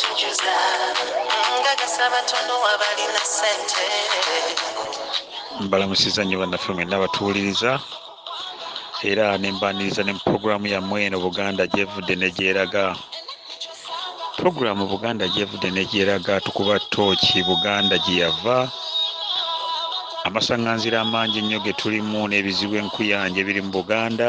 tujuza nga gasaba tono abalina sente mbalamusiza nnyo bannaffe mwenna abatuwuliriza era nembaniriza ne mu puroguramu yammwe eno buganda gyevudde negyeraga puroguramu buganda gyevudde negyeraga tukuba tooki buganda gyeyava amasaŋŋanzira amangi ennyo ge tulimu n'ebizibu enkuyanja ebiri mu buganda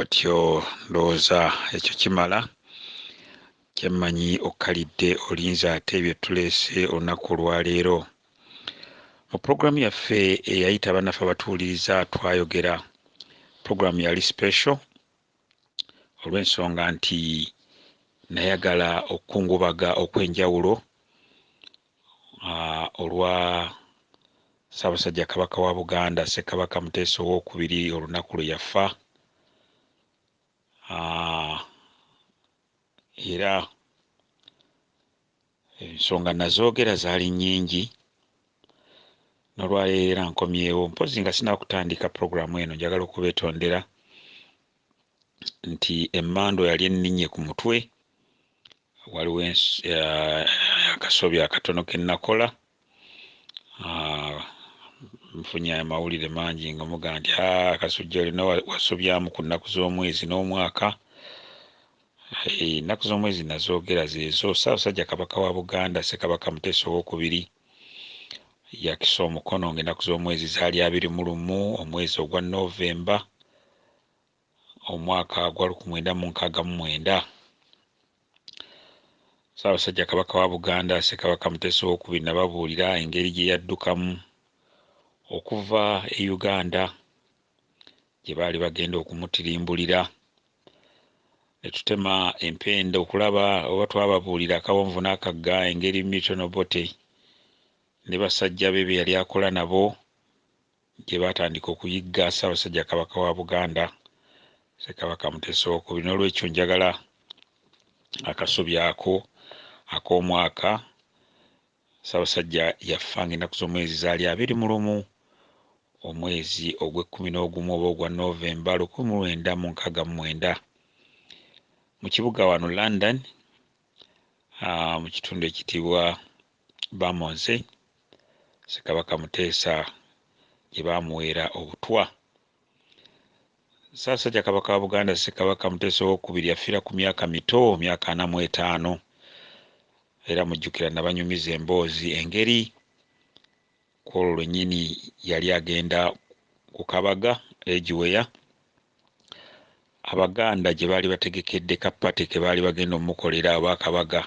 otyo ndowooza ekyo kimala kyemmanyi okkalidde olinza ate bye tuleese olunaku olwaleero mu pulogulaamu yaffe eyayita abannaffe abatuwuliriza twayogera pulogulaamu yali special olw'ensonga nti nayagala okukungubaga okw'enjawulo ah, olwa Ssaabasajja Kabaka wa Buganda Ssekabaka Muteesa ow'okubiri olunaku lwe yafa ah, era Ensonga nazoogera zaali nnyingi nolwaleero era nkomyewo mpozzi nga sinakutandika pulogulaamu eno njagala okubetondera nti emmando yali enninye ku mutwe waliwo eh, akasobi akatono ke nakola Ah, nfunye amawulire mangi nga muga nti ah, kasujja olina wasobyamu ku nnaku z'omwezi n'omwaka eh, ennaku z'omwezi nazoogera zeezo ssaabasajja kabaka wa buganda ssekabaka muteesa owokubiri yakisa omukono ng'ennaku z'omwezi zaali abiri mu lumu omwezi ogwa novemba omwaka gwa lukumi lwenda mu nkaaga mu mwenda, Ssaabasajja Kabaka wa Buganda Ssekabaka Muteesa ow'okubiri nababuulira engeri gye yaddukamu okuva e Uganda gye baali bagenda okumutirimbulira ne tutema empenda okulaba oba twababuulira akawonvu n'akagga engeri Milton Obote ne basajja be be yali akola nabo gye baatandika okuyigga Ssaabasajja Kabaka wa Buganda Ssekabaka Muteesa Owookubiri n'olwekyo njagala akasubi ako ak'omwaka Ssaabasajja yafa ng'ennaku z'omwezi zaali abiri mu lumu omwezi ogw'ekkumi n'ogumu oba ogwa Novemba lukumi mu lwenda mu nkaaga mu mwenda mu kibuga wano London ah, mu kitundu ekitibwa Bamonze, Ssekabaka Muteesa gye baamuweera obutwa. Ssaasajja Kabaka wa Buganda Ssekabaka Muteesa ow'okubiri yafiira ku myaka mito, myaka ana mu etaano, era mujjukira nabanyumiza emboozi engeri ku olwo lwennyini yali agenda ku kabaga e Giweya Abaganda gye baali bategekedde ka pate ke baali bagenda omukolera oba akabaga.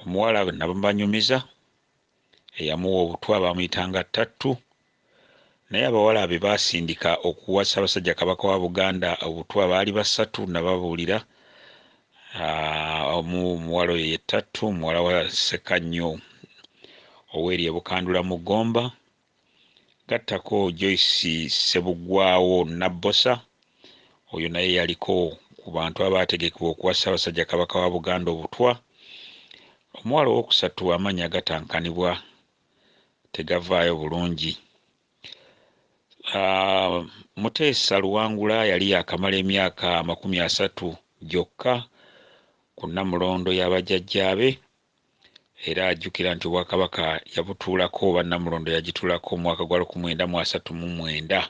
Omuwala nabanyumiza eyamuwa obutwa baamuyitanga Ttattu naye abawala be baasindika okuwa Ssaabasajja Kabaka wa Buganda obutwa baali basatu nababuulira omu omuwala oyo ye Ttattu muwala wa Ssekannyo ow'eri e Bukandula mu Gomba gattako Joyce Ssebuggwawo Nabbosa oyo naye yaliko ku bantu abaategekebwa okuwa Ssaabasajja Kabaka wa Buganda obutwa. Omuwala owookusatu amannya gatankanibwa tegavaayo bulungi. Ah, Muteesa Luwangula yali yaakamala emyaka amakumi asatu gyokka ku Nnamulondo ya bajjajjaabe era ajjukira nti Obwakabaka yabutuulako oba Nnamulondo yagituulako mu mwaka gwa luku mwenda mu asatu mu mwenda.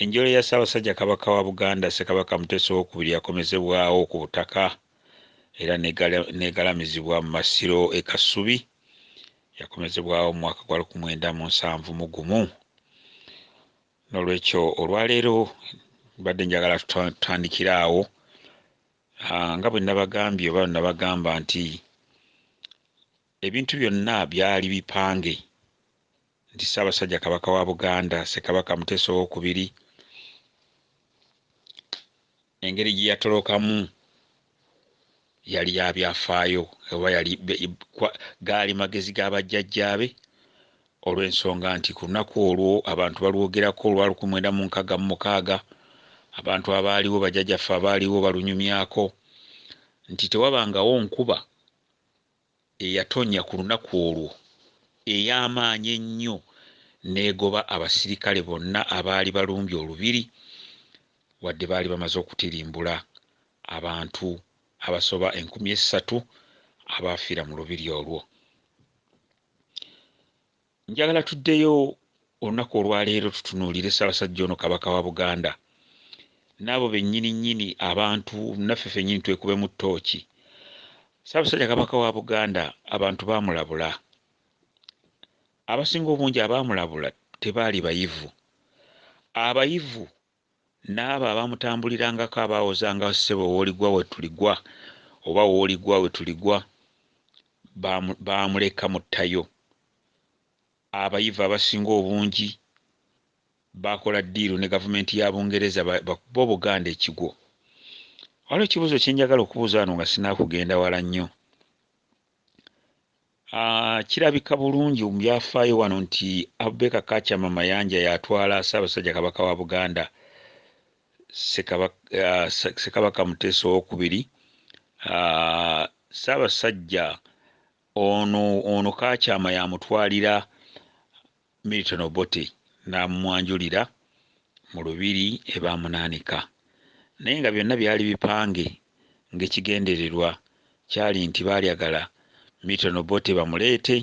Enjole ya Ssaabasajja Kabaka wa Buganda Ssekabaka Muteesa owokubiri yakomezebwawo ku butaka era n'egalamizibwa mu Masiro e Kasubi yakomezebwawo mu mwaka gwa luku mwenda mu nsanvu mu gumu. N'olwekyo olwaleero mbadde njagala tutandikire awo Ah, nga bwe nnabagambye oba nnabagamba nti ebintu byonna byali bipange nti Ssaabasajja Kabaka wa Buganda Ssekabaka Muteesa Owookubiri engeri gye yatolokamu yali ya byafaayo oba yali gaali magezi ga bajjajjaabe Olw'ensonga nti ku lunaku olwo abantu balwogerako olwa lukumwenda mu nkaga mu mukaaga, abantu abaaliwo, bajajaffe abaaliwo balunyumyako nti tewabangawo nkuba eyatonya ku lunaku olwo ey'amaanyi ennyo n'egoba abasirikale bonna abaali balumbye olubiri wadde baali bamaze okutirimbula abantu abasoba enkumi essatu abaafiira mu lubiri olwo. njagala tuddeyo olunaku olwaleero tutunuulire ssabasajja ono kabaka wa buganda naabo bennyini nnyini abantu naffe fennyini twekubemu ttooki ssabasajja kabaka wa buganda abantu baamulabula abasinga obungi abaamulabula tebaali bayivu abayivu N'abo abamutambulirangako abaawozanga ssebo w'oligwa we tuligwa oba w'oligwa we tuligwa baamu, baamuleka mu ttayo. Abayivu abasinga obungi baakola ddiiru ne gavumenti ya Bungereza ba- bakube Obuganda ekigwo. Waliwo ekibuuzo kye njagala okubuuza wano nga sinaakugenda wala nnyo. Uh, kirabika bulungi mu byafaayo wano nti abubeka kachama mayanja yatwala ssaabasajja kabaka wa buganda ssekabaka uh, muteesa owokubiri uh, ssaabasajja ono ono kachama yamutwalira Milton Obote n'amumwanjulira mu Lubiri e Baamunaanika naye nga byonna byali bipange ng'ekigendererwa kyali nti baalyagala Milton Obote bamuleete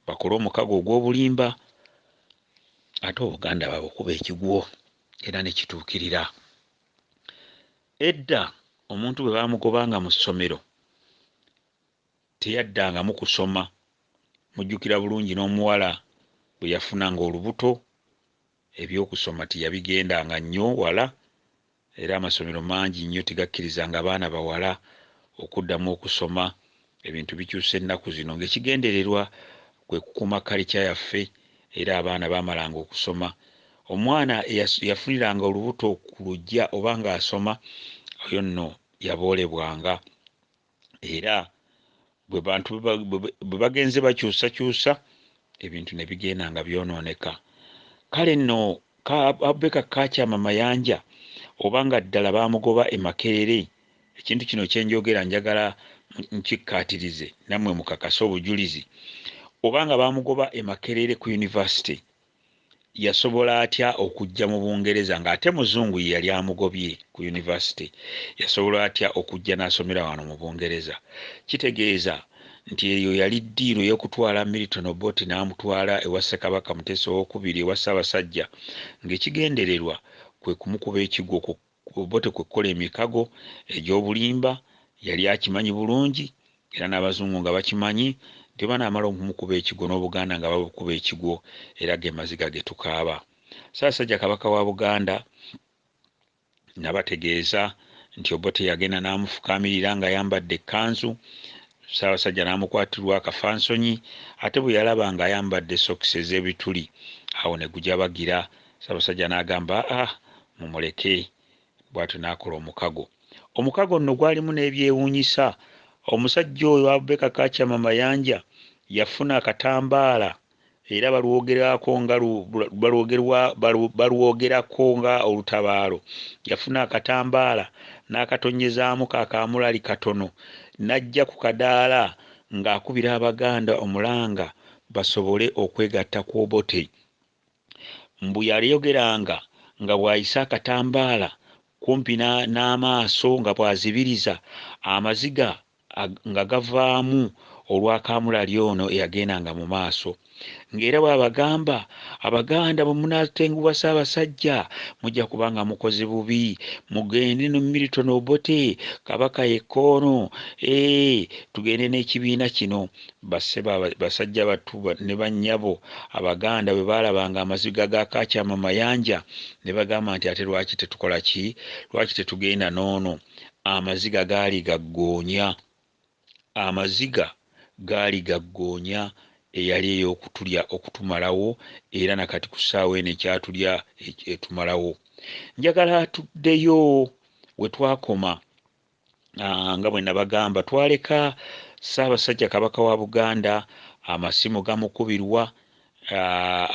bakole omukago ogw'obulimba ate Obuganda babukuba ekigwo era ne kituukirira. Edda omuntu bwe baamugobanga mu ssomero Teyaddangamu kusoma. Mujjukira bulungi n'omuwala bwe yafunanga olubuto, eby'okusoma teyabigendanga nnyo wala era amasomero mangi nnyo tegakkirizanga baana bawala okuddamu okusoma. Ebintu bikyuse ennaku zino ng'ekigendererwa kwe kukuuma kalica yaffe era abaana baamalanga okusoma. Omwana eyafuniranga olubuto ku luggya oba ng'asoma, oyo nno yaboolebwanga. era bwe bantu bwe bagenze bakyusakyusa ebintu ne bigenda nga byonooneka kale nno abeka kakyama mayanja oba nga ddala baamugoba e makerere ekintu kino kyenjogera njagala nkikkaatirize nammwe mukakase obujulizi oba nga baamugoba e makerere ku yunivasite Yasobola atya okujja mu Bungereza nga ate Muzungu ye yali amugobye ku University? Yasobola atya okujja n'asomera wano mu Bungereza? Kitegeeza nti eyo yali ddiiru ey'okutwala Milton Obote n'amutwala ewa Ssekabaka Muteesa ow'Okubiri ewa Ssaabasajja ng'ekigendererwa kwe kumukuba ekigwo ku Ku Obote kwe kukola emikago egy'obulimba, yali akimanyi bulungi era n'Abazungu nga bakimanyi nti bwe banaamala okumukuba ekigwo n'Obuganda nga babukuba ekigwo era ge maziga ge tukaaba. Ssaasajja Kabaka wa Buganda nabategeeza nti Obote yagenda n'amufukaamirira ng'ayambadde ekkanzu, Ssaabasajja n'amukwatirwa akafansonyi ate bwe yalaba ng'ayambadde sokisi ez'ebituli awo ne gujabagira. Ssabasajja n'agamba a ah, mumuleke bw'atyo n'akola omukago. Omukago nno gwalimu n'ebyewuunyisa. Omusajja oyo Abubeka Kachama Mayanja yafuna akatambaala era balwogerako nga balwogerako nga olutabaalo yafuna akatambaala n'akatonyezaamu kakaamulali katono n'ajja ku kadaala ng'akubira abaganda omulanga basobole okwegatta ku obote Mbu yayogeranga nga bw'ayisa akatambaala kumpi n'amaaso nga bw'azibiriza, amaziga nga gavaamu olwa kaamulali ono eyagendanga mu maaso ng'era bw'abagamba, Abaganda bwe munaatenguwa Ssaabasajja mujja kuba nga mukoze bubi, mugende ne Milton Obote, Kabaka yekka ono, eeh tugende n'ekibiina kino. Bassebo aba, basajja battu ne bannyabo Abaganda bwe baalabanga amaziga ga Kaakyama Mayanja ne bagamba nti ate lwaki tetukola ki? Lwaki tetugenda n'ono? Amaziga gaali ga ggoonya. Amaziga gaali ga ggoonya eyali ey'okutulya, okutumalawo era na kati ku ssaawa eno ekyatulya, etumalawo. Njagala tuddeyo we twakoma. nga bwenabagamba twaleka Ssabasajja Kabaka wa Buganda amasimu gamukubirwa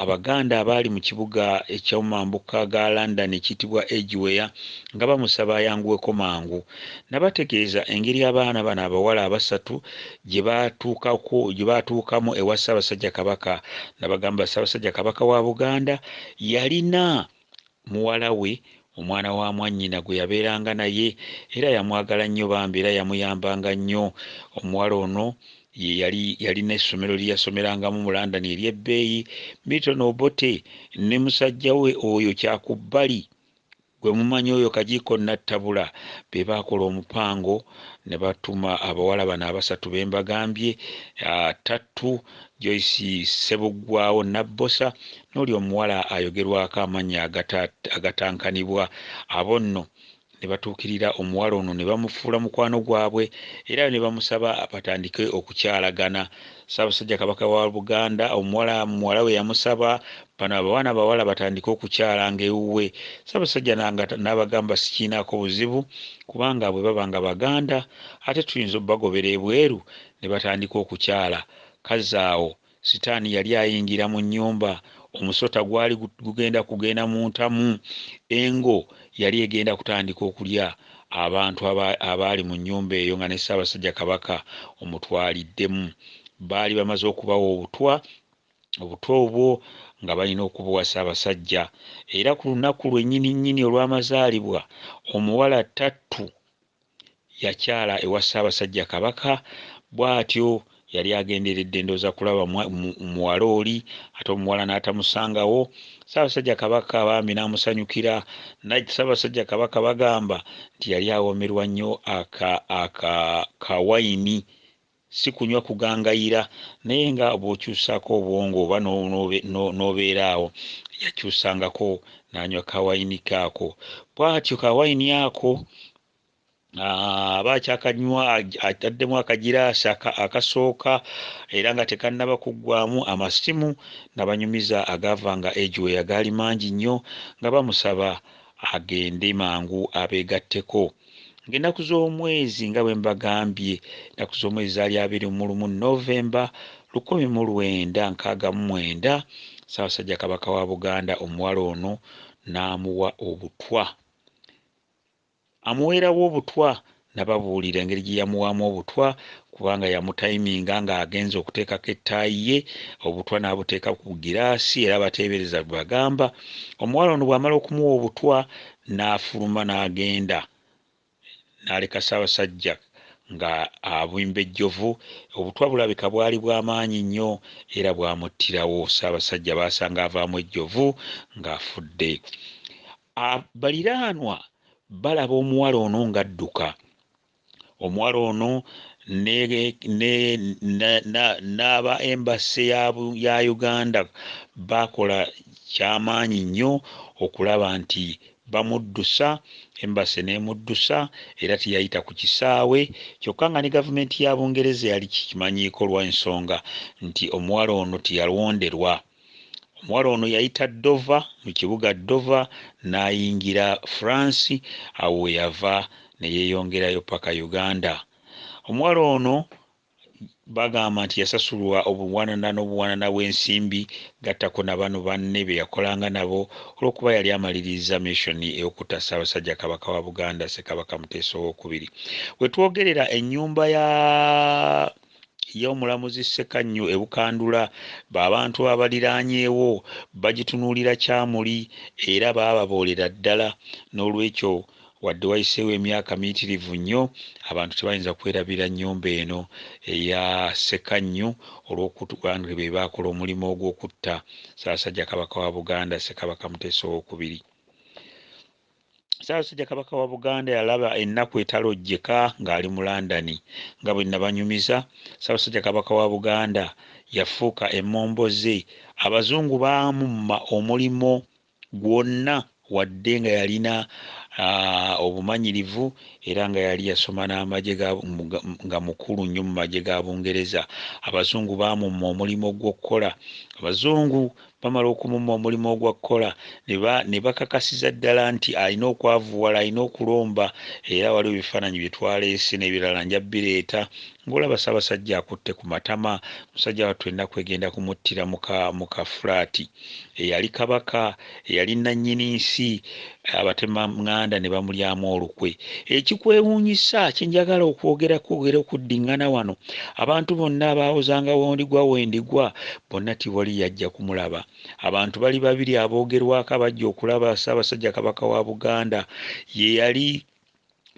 Abaganda abaali mu kibuga eky'omambuka ga London ekiyitibwa Edgware nga bamusaba ayanguweko mangu. Nabategeeza engeri abaana bano abawala abasatu gye baatuukamu ewa Ssabasajja Kabaka. Nabagamba Ssabasajja Kabaka wa Buganda yalina muwala we, omwana wa mwannyina gwe yabeeranga naye era yamwagala nnyo bambi era yamuyambanga nnyo. Omuwala ono ye yali yalina essomero lye yasomerangamu mu London ery'ebbeeyi. Milton Obote ne musajja we oyo Kyakubbali gwe mumanyi oyo Kagiiko Nattabula be baakola omupango ne batuma abawala bano abasatu be mbagambye, ah, Tattu, Joyce Ssebuggwaawo Nabbosa N'oli omuwala ayogerwako amannya agata, agatankanibwa, abo nno ne batuukirira omuwala ono ne bamufuula mukwano gwabwe era ne bamusaba batandike okukyalagana. Ssaabasajja Kabaka wa Buganda omuwala muwala we yamusaba bano abawana abawala batandike okukyalanga ewuwe. Ssaabasajja nanga n'abagamba sikiinaako buzibu kubanga bwe baba nga Baganda ate tuyinza obagobera ebweru ne batandika okukyala. Kazaawo Sitaani yali ayingira mu nnyumba. Omusota gwali gugenda kugenda mu ntamu. Engo yali egenda kutandika okulya abantu abaali mu nnyumba eyo nga ne Ssaabasajja Kabaka omutwaliddemu. Baali bamaze okubawa obutwa, obutwa obwo nga balina okubuwa Ssaabasajja. Era ku lunaku lwennyini nnyini olw'amazaalibwa, omuwala Ttattu, yakyala ewa Ssaabasajja Kabaka bwatyo yali agenderedde ndooza kulaba muwala oli ate omuwala n'atamusangawo Ssaabasajja Kabaka bambi n'amusanyukira naye Ssaabasajja Kabaka bagamba nti yali awomerwa nnyo aka aka kawayini Si kunywa kugangayira, naye nga bw'okyusaako obwongo oba n'obeera awo. Yakyusangako n'anywa ka wayini ke ako. Bw'atyo ka wayini ako aba akyakanywa ataddemu akagiraasi akasooka era nga tekannaba kuggwaamu amasimu nabanyumiza agaavanga Edge we agaali mangi nnyo nga bamusaba agende mangu abeegatteko. ng'ennaku z'omwezi nga bwe mbagambye ennaku z'omwezi zaali abiri mu lumu novemba lukumi mu lwenda nkaaga mu mwenda ssaabasajja kabaka wa buganda omuwala ono n'amuwa obutwa amuweerawo obutwa nababuulira engeri gye yamuwaamu obutwa kubanga yamutayiminga ng'agenza okuteekako ettaayi ye obutwa n'abuteeka ku giraasi era bateebereza bagamba omuwala ono bw'amala okumuwa obutwa n'afuluma n'agenda n'aleka Ssaabasajja nga abimba ejjovu. Obutwa bulabika bwali bwa maanyi nnyo era bwamuttirawo. Ssaabasajja baasanga avaamu ejjovu ng'afudde. Baliraanwa balaba omuwala ono ng'adduka Omuwala ono ne, ne, na, na, n'aba embase ya, ya Uganda baakola kyamaanyi nnyo okulaba nti bamuddusa embase n'emuddusa era teyayita ku kisaawe kyokka nga ne gavumenti ya Bungereza yali kikimanyiiko lwa nsonga nti omuwala ono teyalonderwa Omuwala ono yayita Dover mu kibuga Dover n'ayingira France awo we yava ne yeeyongerayo paka Uganda. Omuwala ono bagamba nti yasasulwa obuwanana n'obuwanana bw'ensimbi gattako na bano banne be yakolanga nabo olw'okuba yali amaliriza missioni ey'okutta Ssaabasajja Kabaka wa Buganda Ssekabaka Muteesa ow'okubiri. We twogerera ennyumba ya Ye omulamuzi Ssekannyu e Bukandula b'abantu abaliraanyeewo bagitunuulira kyamuli era baababoolera ddala n'olwekyo wadde wayiseewo emyaka miyitirivu nnyo abantu tebayinza kwerabira nnyumba eno eya Ssekannyu olw'okuba nti be baakola omulimu ogw'okutta Ssaabasajja Kabaka wa Buganda Ssekabaka Muteesa ow'okubiri. Ssaabasajja Kabaka wa Buganda yalaba ennaku etalojjeka ng'ali mu London nga bwe nabanyumiza. Ssaabasajja Kabaka wa Buganda yafuuka emmomboze. Abazungu baamumma omulimu gwonna wadde nga yalina ah, obumanyirivu era nga yali yasoma n'amagye nga mukulu nnyo mu magye ga Bungereza. Abazungu baamumma omulimu gw'okukola. Abazungu Bamala okumumma omulimu ogwakkola ne bakakasiza ddala nti alina okwavuwala, alina okulomba era waliwo ebifaananyi bye twaleese n'ebirala nja bireeta ng'olaba Ssabasajja akutte ku matama. Musajja wattu ennaku egenda kumuttira mu ka fulaati. Eyali Kabaka, eyali nnannyini nsi, abatemanganda ne bamulyamu olukwe. Ekikwewuunyisa kye njagala okwogerako era okuddiŋŋana wano, abantu bonna abaawozangawo ndigwa we ndigwa Bonna Tiboli yajja kumulaba. Abantu bali babiri aboogerwako abajja okulaba Ssaabasajja Kabaka wa Buganda. Ye yali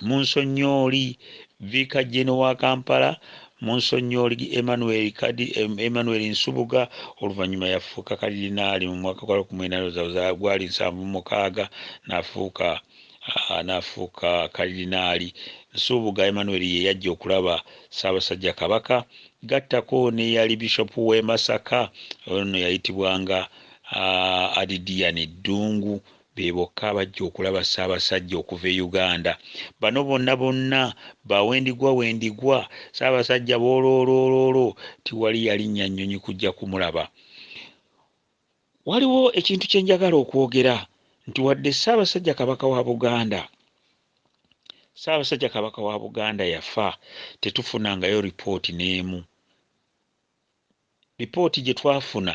Munsonnyoli Viika Jeno wa Kampala, Munsonnyoli Emmanuel Kadi, Emmanuel Nsubuga, oluvannyuma yafuuka Kalidinaali mu mwaka gwa lukumi mwenda ndowooza gwali nsanvu mu mukaaga n'afuuka ah, n'afuuka Kalidinaali. Nsubuga Emmanuel ye yajja okulaba Ssaabasajja Kabaka Gattako n'eyali Bishop w'e Masaka, ono yayitibwanga Adidiyani Ddungu, be bokka abajja okulaba Ssaabasajja okuva e Uganda. Bano bonna bonna ba wendigwa wendigwa, Ssaabasajja booloolooloolo tiwali yalinnya nnyonyi kujja kumulaba. Waliwo ekintu kye njagala okwogera nti wadde Ssaabasajja Kabaka wa Buganda Ssaabasajja Kabaka wa Buganda yafa tetufunangayo lipooti n'emu. Lipooti gye twafuna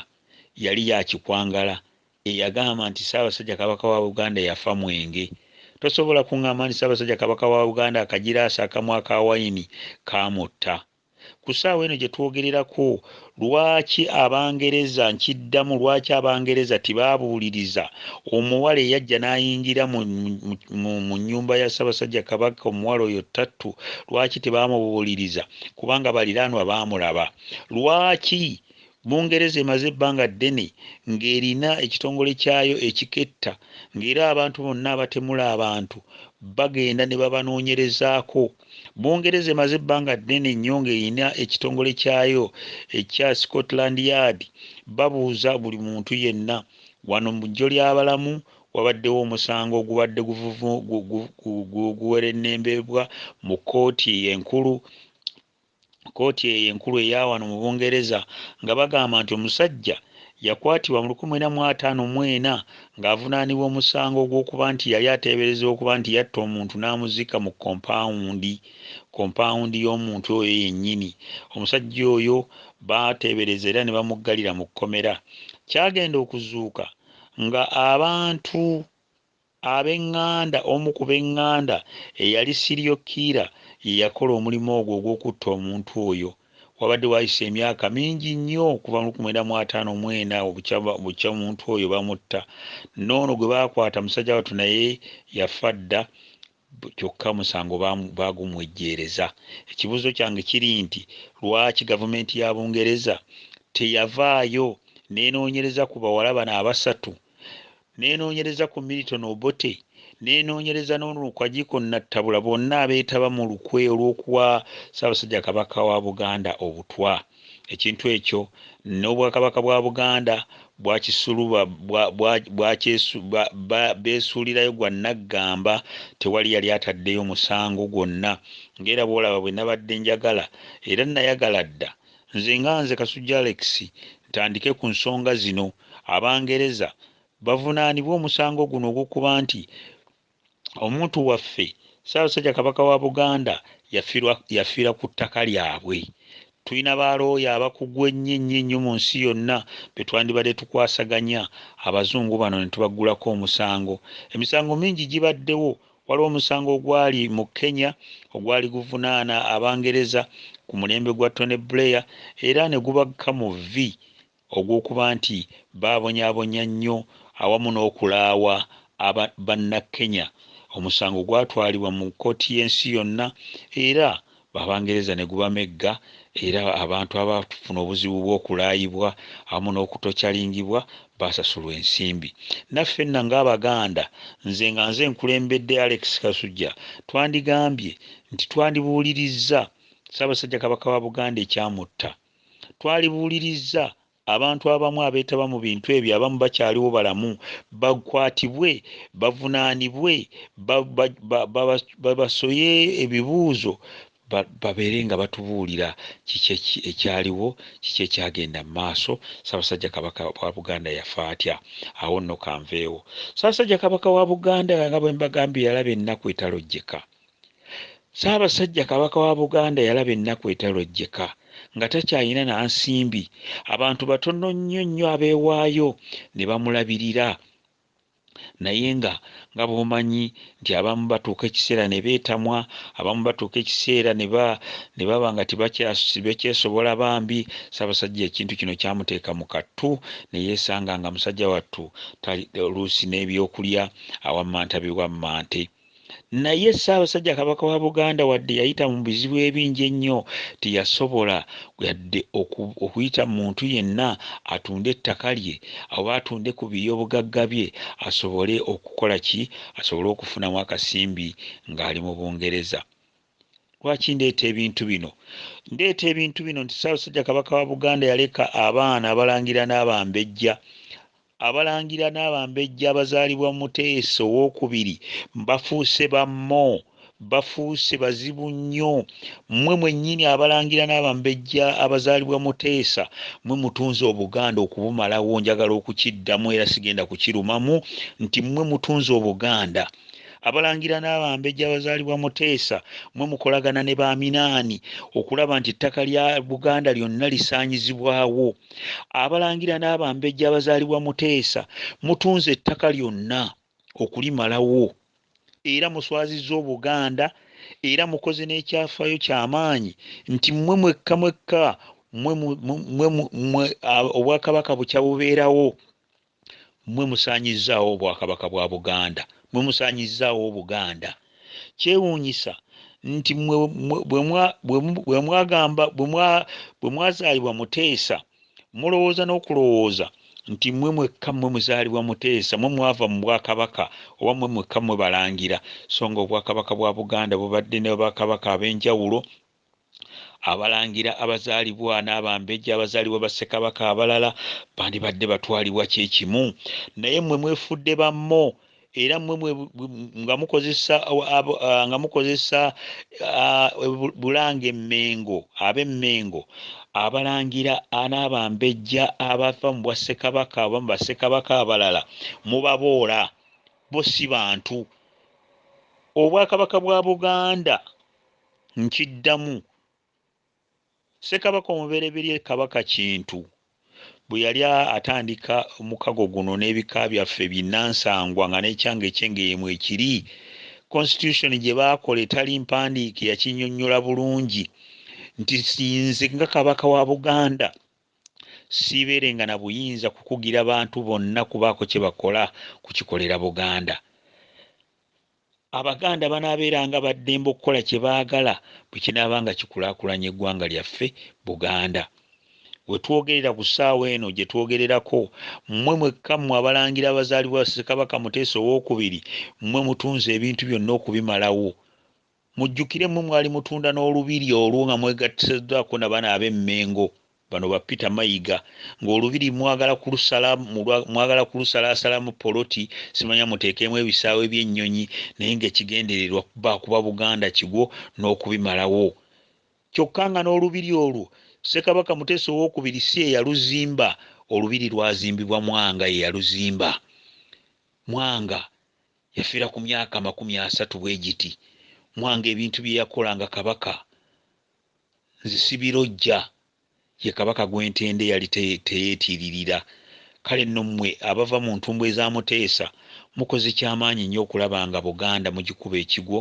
yali ya Kikwangala eyagamba nti Ssaabasajja Kabaka wa Buganda yafa mwenge. Tosobola kung'amba nti Ssaabasajja Kabaka wa Buganda akagiraasi akamu aka wayini kaamutta. ku ssaawa eno gye twogererako lwaki abangereza nkiddamu lwaki abangereza tibaabuuliriza omuwala eyajja n'ayingira mu nnyumba ya ssabasajja kabaka omuwala oyo ttattu lwaki tebaamubuuliriza kubanga baliraanwa baamulaba lwaki bungereza emaze ebbanga ddene ng'erina ekitongole kyayo ekiketta ng'era abantu bonna abatemula abantu bagenda ne babanoonyerezaako Bungereza emaze ebbanga ddene nnyo ng'erina ekitongole kyayo ekya Scotland Yard babuuza buli muntu yenna. Wano mu ggyo ly'abalamu wabaddewo omusango ogubadde guwerennembeebwa mu kkooti enkulu kkooti eyo enkulu eya wano mu Bungereza nga bagamba nti omusajja yakwatibwa mu lukumi mwenda mu ataano mu ena ng'avunaanibwa omusango ogw'okuba nti yali ateeberezebwa okuba nti yatta omuntu n'amuzika mu kompaawundi kompaawundi y'omuntu oyo yennyini omusajja oyo baateebereza era ne bamuggalira mu kkomera kyagenda okuzuuka nga abantu Ab'eŋŋanda, Omu ku b'eŋŋanda eyali serial killer ye yakola omulimu ogwo ogw'okutta omuntu oyo. Wabadde waayise emyaka mingi nnyo okuva mu lukumi lwenda mu ataano mu ena obukya bukya omuntu oyo bamutta. N'ono gwe baakwata musajja wattu naye yafa dda. kyokka omusango baagumwejjeereza. Ekibuuzo kyange kiri nti lwaki gavumenti ya Bungereza teyavaayo n'enoonyereza ku bawala bano abasatu, n'enoonyereza ku Milton Obote, n'enoonyereza n'ono Kwajiko Nattabula bonna abeetaba mu lukwe olw'okuwa Ssaabasajja Kabaka wa Buganda obutwa? Ekintu ekyo n'Obwakabaka bwa Buganda bwakisuluba bwa, bwa, bwakyesu, ba, ba, beesuulirayo gwa nnaggamba, tewali yali ataddeyo musango gwonna, ng'era bw'olaba bwe nabadde njagala, era nnayagala dda, nze nga nze Kasujja Alex, ntandike ku nsonga zino. Abangereza bavunaanibwe omusango guno ogw'okuba nti, omuntu waffe Ssaabasajja Kabaka wa Buganda yafiira ku ttaka lyabwe. Tulina ba looya abakugu ennyo ennyo ennyo mu nsi yonna be twandibadde tukwasaganya Abazungu bano ne tubaggulako omusango. Emisango mingi gibaddewo. Waliwo omusango ogwali mu Kenya ogwali guvunaana Abangereza ku mulembe gwa Tony Blair era ne gubakka mu vvi ogw'okuba nti baabonyaabonya nnyo awamu n'okulaawa aba Bannakenya, omusango gwatwalibwa mu kkooti y'ensi yonna era Abangereza ne gubamegga era abantu abaafuna obuzibu bw'okulaayibwa awamu n'okutocalingibwa baasasulwa ensimbi. Naffenna ng'Abaganda, nze nga nze nkulembedde Alex Kasujja, twandigambye nti twandibuulirizza Ssaabasajja Kabaka wa Buganda ekyamutta. Twalibuulirizza abantu abamu abeetaba mu bintu ebyo abamu bakyaliwo balamu bakwatibwe bavunaanibwe babasoye ebibuuzo babeere nga batubuulira kiki ekyaliwo kiki ekyagenda mu maaso Ssaabasajja Kabaka wa Buganda yafa atya awo nno kanveewo Ssaabasajja Kabaka wa Buganda nga bwe mbagambye yalaba ennaku etalojjeka Ssaabasajja Kabaka wa Buganda yalaba ennaku etalojjeka nga takyalina na nsimbi, abantu batono nnyo nnyo abeewaayo ne bamulabirira naye nga nga bw'omanyi nti abamu batuuka ekiseera ne beetamwa abamu batuuka ekiseera ne baba nga tebakyesobola bambi ssaabasajja ekintu kino kyamuteeka mu kattu ne yeesanga nga musajja wattu oluusi n'ebyokulya awammanta biwammante Naye Ssaabasajja Kabaka wa Buganda wadde yayita mu bizibu ebingi ennyo, teyasobola yadde okuyita muntu yenna atunde ettaka lye oba atunde ku biyoobugagga bye asobole okukola ki asobole okufunamu akasimbi ng'ali mu Bungereza. lwaki ndeeta ebintu bino ndeeta ebintu bino nti ssaabasajja kabaka wa buganda yaleka abaana abalangira n'abambejja abalangira n'abambejja abazaalibwa muteesa owokubiri bafuuse bammo bafuuse bazibu nnyo mmwe mwennyini abalangira n'abambejja abazaalibwa muteesa mwe mutunze obuganda okubumalawo njagala okukiddamu era sigenda kukirumamu nti mmwe mutunze obuganda Abalangira n'abambejja abazaalibwa Muteesa mwe mukolagana ne ba Minaani okulaba nti ettaka lya Buganda lyonna lisaanyizibwawo. Abalangira n'abambejja abazaalibwa Muteesa mutunze ettaka lyonna okulimalawo era muswazizza Obuganda era mukoze n'ekyafaayo ky'amaanyi nti mmwe mwekka mwekka Obwakabaka bukya bubeerawo Mmwe musaanyizzaawo Obwakabaka bwa Buganda. Mmwe musaanyizzaawo Obuganda. Kyewuunyisa nti mmwe bwe mwagamba bwe mwazaalibwa Muteesa mulowooza n'okulowooza nti mmwe mwekka mmwe muzaalibwa Muteesa, mmwe mwava mu Bwakabaka oba mmwe mwekka mmwe Balangira, sso nga Obwakabaka bwa Buganda bubadde ne Bakabaka ab'enjawulo Abalangira abazaalibwa n'abambejja abazaalibwa ba Ssekabaka abalala bandibadde batwalibwa kye kimu, naye mmwe mwefudde bammo era mmwe mwe nga mukozesa nga mukozesa Bulange Mmengo ab'e Mmengo abalangira n'abambejja abava mu Bwassekabaka oba mu Bassekabaka abalala mubaboola bo si bantu. Obwakabaka bwa Buganda Nkiddamu, Ssekabaka omubereberye Kabaka Kintu bwe yali atandika omukago guno n'ebika byaffe binnansangwa nga n'ekyange eky'Engeye mwekiri, Constitution gye baakola etali mpandiike yakinnyonnyola bulungi nti nze nga Kabaka wa Buganda siibeerenga na buyinza kukugira bantu bonna kubaako kye bakola kukikolera Buganda. Abaganda banaabeeranga ba ddembe okukola kye baagala bwe kinaaba nga kikulaakulanya eggwanga lyaffe Buganda. We twogerera ku ssaawa eno gye twogererako, mmwe mwekka mmwe Abalangira abazaalibwa Ssekabaka Muteesa Owookubiri, mmwe mutunze ebintu byonna okubimalawo. Mujjukire mmwe mwali mutunda n'Olubiri olwo nga mwegattiseddwako na bano ab'e Mmengo. Bano ba Peter Mayiga nga olubiri mwagala kulusala mwagala kulusalaasalamu poloti simanya muteekeemu ebisaawe by'ennyonyi naye nga ekigendererwa kuba kuba Buganda kigwo n'okubimalawo kyokka nga n'olubiri olwo Ssekabaka Muteesa ow'okubiri si ye yaluzimba olubiri lwazimbibwa Mwanga ye yaluzimba Mwanga yafira ku myaka amakumi asatu bwe giti Mwanga ebintu bye yakola nga Kabaka Nzisibirojja ye Kabaka gw'entenda eyali teyeetiiririra. Kale nno mmwe abava mu ntumbwe za Muteesa mukoze kya maanyi nnyo okulaba nga Buganda mugikuba ekigwo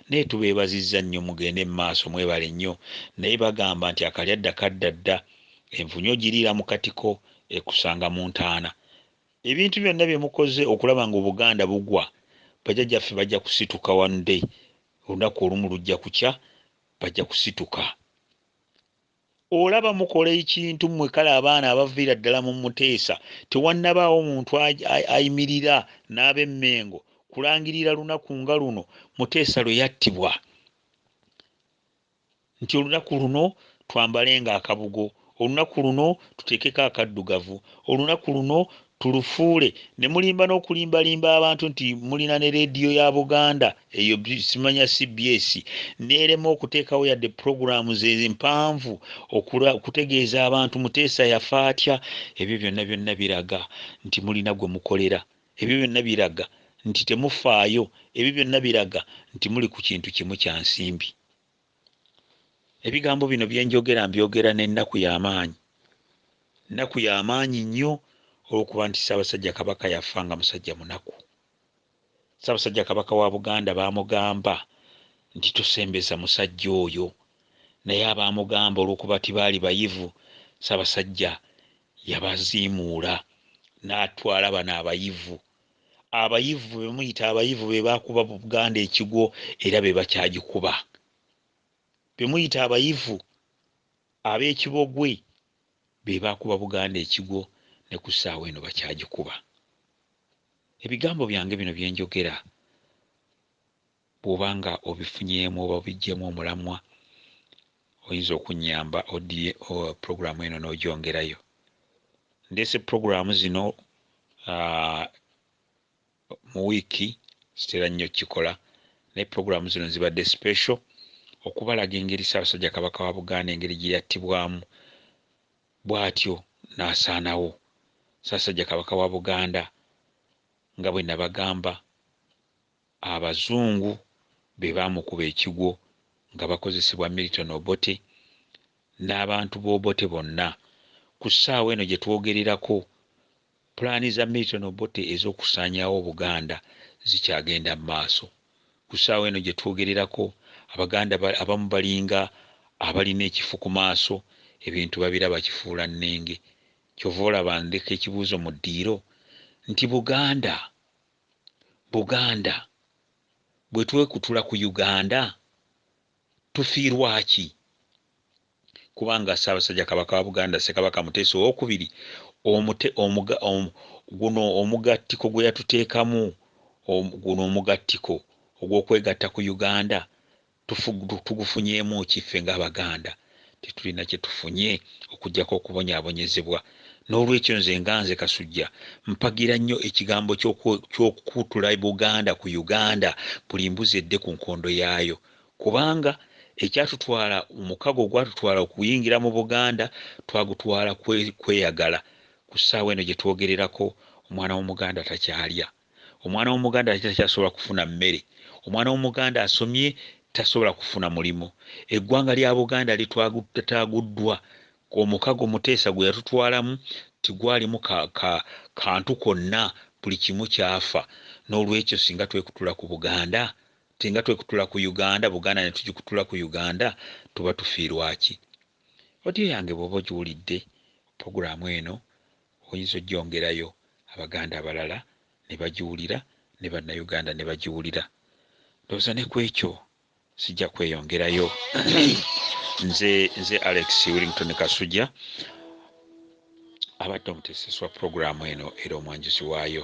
naye tubeebazizza nnyo mugende mu maaso mwebale nnyo naye bagamba nti akalyadda kadda dda envunyu ogiriira mu katiko ekusanga mu ntaana. Ebintu byonna bye mukoze okulaba nga Obuganda bugwa bajajaffe bajja kusituka one day olunaku olumu lujja kukya bajja kusituka olaba mukola ekintu mmwe kale abaana abaviira ddala mu muteesa tewannabaawo muntu ayimirira n'abemmengo kulangirira lunaku nga luno muteesa lwe yattibwa nti olunaku luno twambalenga akabugo Olunaku luno tuteekeko akaddugavu. Olunaku luno tulufuule ne mulimba n'okulimbalimba abantu nti mulina ne leediyo ya Buganda eyo simanya CBS n'erema okuteekawo yadde pulogulaamu ze mpanvu okutegeeza abantu Muteesa yafa atya. Ebyo byonna byonna biraga nti mulina gwe mukolera. Ebyo byonna biraga nti temufaayo. Ebyo byonna biraga nti muli ku kintu kimu kya nsimbi. ebigambo bino bye njogera mbyogera n'ennaku y'amaanyi nnaku y'amaanyi nnyo olw'okuba nti ssaabasajja kabaka yafa nga musajja munaku ssaabasajja kabaka wa buganda baamugamba nti tosembeza musajja oyo naye abaamugamba olw'okuba ti baali bayivu ssaabasajja yabaziimuula n'atwala bano abayivu abayivu bemuyita abayivu bebakuba buganda ekigwo era bebakyagikuba bemuyita abayivu abekibogwe bebakuba buganda ekigwo ne ku ssaawa eno bakyagikuba ebigambo byange bino byenjogera Bw'oba nga obifunyeemu oba obiggyeemu omulamwa, oyinza okunnyamba oddire pulogulaamu eno n'ogyongerayo. Ndeese pulogulaamu zino mu wiiki, sitera nnyo kukikola, naye pulogulaamu zino zibadde special okubalaga engeri Ssaabasajja Kabaka wa Buganda engeri gye yattibwamu bw'atyo n'asaanawo. Ssaabasajja Kabaka wa Buganda nga bwe nabagamba Abazungu be baamukuba ekigwo nga bakozesebwa Milton Obote n'abantu b'Obote bonna. Ku ssaawa eno gye twogererako, pulaani za Milton Obote ez'okusaanyaawo Obuganda zikyagenda mu maaso. Ku ssaawa eno gye twogererako, Abaganda abamu balinga abalina ekifu ku maaso, ebintu babiraba kifuulannenge. Ky'ova olaba ndeka ekibuuzo mu ddiiro nti, Buganda! Buganda bwetwekutula ku Uganda tufiirwaki? Kubanga Ssaabasajja Kabaka wa Buganda Ssekabaka Muteesa ow'okubiri omute omuga omu guno omugattiko gweyatuteekamu omu guno omugattiko ogw'okwegatta ku Uganda Tugufunyeemu ki? Ffe ng'Abaganda tetulina kye tufunye okuggyako okubonyaabonyezebwa. N'olwekyo nze nga nze Kasujja mpagira nnyo ekigambo ky'okukutula Buganda ku Uganda buli mbuzi edde ku nkondo yaayo kubanga ekyatutwala, omukago ogwatutwala okuyingira mu Buganda twagutwala kweyagala. Ku ssaawa eno gye twogererako omwana w'Omuganda takyalya. Omwana w'Omuganda takyasobola kufuna mmere. Omwana w'Omuganda asomye tasobola kufuna mulimu. Eggwanga lya Buganda litwataaguddwa. Omukago Muteesa gwe yatutwalamu tegwalimu ka, ka, kantu konna, buli kimu kyafa. N'olwekyo singa twekutula ku Buganda, singa twekutula ku Uganda, Buganda ne tugikutula ku Uganda, tuba tufiirwa ki? Audio yange bw'oba ogiwulidde, pulogulaamu eno, Oyinza ojjongerayo Abaganda abalala ne bagiwulira ne Bannayuganda ne bagiwulira. Ndowooza ne ku ekyo sijja kweyongerayo. Nze nze Alex Willington Kasujja abadde omuteeseswa pulogulaamu eno era omwanjuzi waayo.